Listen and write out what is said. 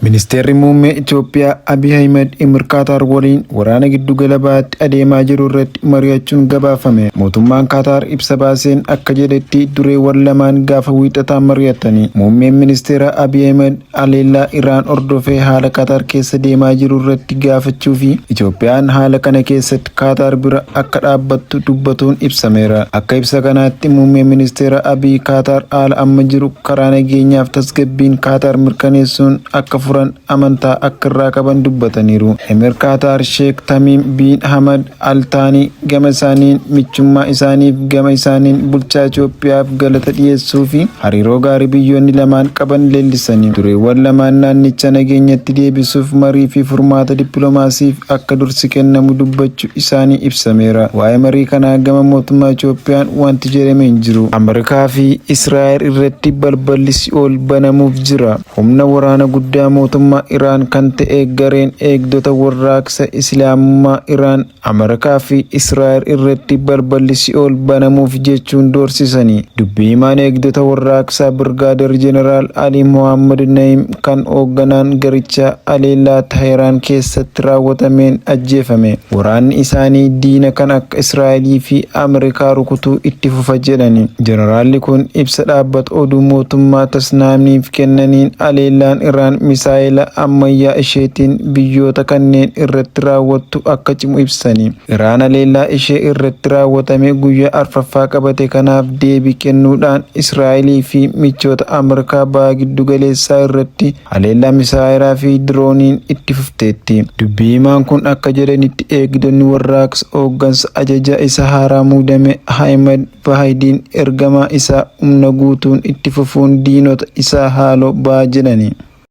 Ministeerri Muummee Itoophiyaa Abiy Ahimad Imir Kaataar waliin waraana giddugala bahaatti adeemaa jiru irratti mari'achuun gabaafame. Mootummaan Kaataar ibsa baaseen akka jedhetti dureewwan lamaan gaafa Wiixataa mari'atanii Muummeen Ministeeraa Abiy Ahimad haleellaa Iraan hordofee haala Kaataar keessa deemaa jiru irratti gaafachuu fi Itoophiyaan haala kana keessatti Kaataar bira akka dhaabbattu dubbatuun ibsameera. Akka ibsa kanaatti Muummeen Ministeera Abiy Kaataar haala amma jiru karaa nageenyaaf tasgabbiin Kaataar mirkaneessuun akka furan amantaa akka irraa qaban dubbataniiru. Emir Kaataar Sheek Tamiim Biin Hamad Al Taanii gama isaaniin michummaa isaaniif gama isaaniin bulchaa Itoophiyaaf galata dhiyeessuu fi hariiroo gaarii biyyoonni lamaan qaban leellisanii dureewwan lamaan naannicha nageenyatti deebisuuf marii fi furmaata dippiloomaasiif akka dursi kennamu dubbachu isaanii ibsameera. Waa'ee marii kanaa gama mootummaa Itoophiyaan wanti jedhame hin jiru. Amerikaa fi Israa'el irratti balballi si'ool banamuuf jira. Humna waraana guddaa mootummaa Iraan kan ta'e gareen eegdota warraaqsa Islaamummaa Iraan Amerikaa fi Israa'el irratti balballi si'ool banamuuf jechuun doorsisani. Dubbi himaan eegdota warraaqsaa Birgaader Jeneraal Ali Mohaammad Na'im kan hoogganaan garichaa haleellaa Taahiraan keessatti raawwatameen ajjeefame. Waraanni isaanii diina kan akka Israa'elii fi Ameerikaa rukutuu itti fufa jedhani. Jeneraalli kun ibsa dhaabbata oduu mootummaa Tasnaamiif kennaniin haleellaan Iraan misaa'ela ammayyaa isheetiin biyyoota kanneen irratti raawwattu akka cimu ibsani. Iraan haleellaa ishee irratti raawwatame guyyaa arfaffaa qabate kanaaf deebii kennuudhaan Israa'elii fi michoota Ameerikaa Baha Giddugaleessaa irratti haleellaa misaayeraa fi dirooniin itti fufteetti. Dubbi himaan kun akka jedhanitti eegdonni warraaqsa hooggansa ajajaa isa haaraa muudame Ahimad Vaahidiin ergamaa isaa humna guutuun itti fufuun diinota isaa haaloo baha jedhani.